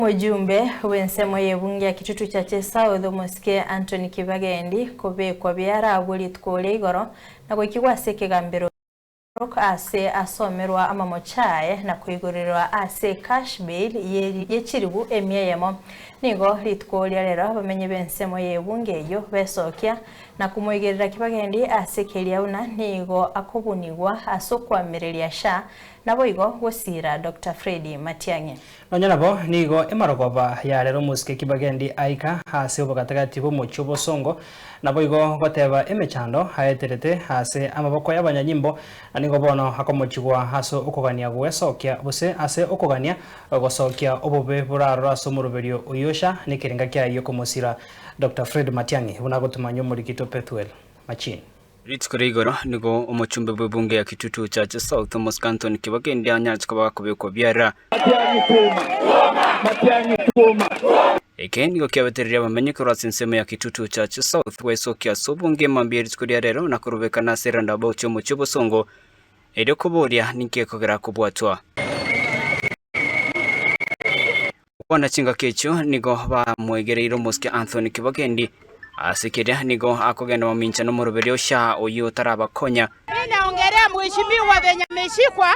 Omojumbe bw'ensemo y'ebunge ya Kitutu Churches South, omosike Anthony Kibagendi, kobekwa biara agwo rituko oria igoro, na goikigwa ase ekegambero Narok aase asomerwa amamoche aye na koigorerewa aase cash bail ye chiribu emia eyemo. Nigo rituko oria rero abamenyi b'ensemo y'ebunge eyio besokia na komoigerera Kibagendi aase keria buna nigo akobunigwa ase okoamereria sha naboigo gosiira Doctor Fred Matiang'i. Nonya nabo nigo emarogoba yarera omosike kibagendi aika ase obogatagati bw'omochie obosongo, naboigo goteba emechando aeterete ase amaboko y'abanyanyimbo, na nigo bono akomochigwa ase okogania gwesokia, gose ase okogania gosokia obobe borarora ase omoroberio oyio sha nekerenga kiayio komosira. Doctor Fred Matiang'i buna agotumanyia omorikitwa Pethuel Machin. Rituko ria igoro nigo omochumbe bw'ebunge ya Kitutu Church South Thomas Canton Kibagendi anyache koba gakobekwa biara. Matianyi kuuma! Matianyi kuuma! Eke nigo kiabetereria abamenyi korwa ase ensemo ya Kitutu Church South goesokia ase obongima mbuya rituko ria rero na korobekana ase roundabout y'omochie obosongo, erio koboria ninki gekogera kobwatwa. Okwana chingaki echio nigo bamwegereire omosike Anthony Kibagendi, ase keria nigo akogenda mamincha nomoroberio Shaa oyio otarabakonya. Mimi naongelea mheshimiwa Benjamin Mshikwa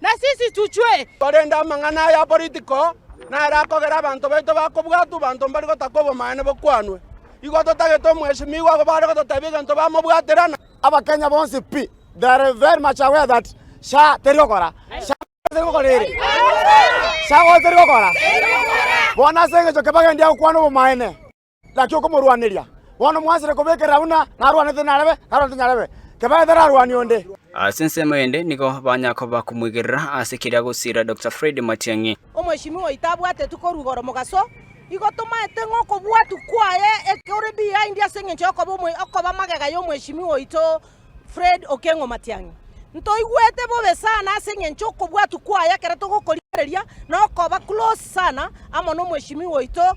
na sisi tuchwe. Korende amang'ana aya aporitiko naro akogera abanto baito bakobwatwa abanto mbari gotaka obomanene bokwanwe. Igo totagete omwesimigwa agobe are gototebia egento bamobwatera, na. Abakenya bonsi pi they are very much aware that sha teri gokora sha teri gokora ere sha gose teri gokora bono ase engecho kebagendia gokwana obomanene. Naki okomorwaneria, bono mwaanchete kobekerera buna narwanete narebe, narwanete nyarebe, kebae tararwani onde. Ase ensemo eyende nigo banya koba komoigerera ase keria agosiira Doctor Fred Matiang'i. Omoishimi oito abwatetwe korwa igoro mogaso, igo tomaete ng'a okobwatwa kwaye kore behind ase engencho y'okoba okoba magega y'omoishimi oito Fred Okengo Matiang'i. Ntoigwete bobe sana ase engencho okobwatwa kwaye ekero togokorigereria na okoba close sana amo nomoishimi oito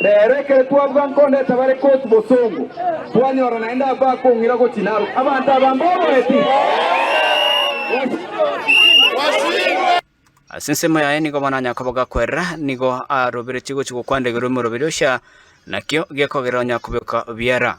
Reero ekero twabuga nkonda etabare koti bosongo, twanyora naende abwo bakong'ira gochia naro abanto aba mboboeti. Ase ensemo yaye nigo bono Yakobo gakwerera, nigo aroberetie gochia gokwandegerwa omoroberi ocha, nakio gekogerera onye akobeoka biara.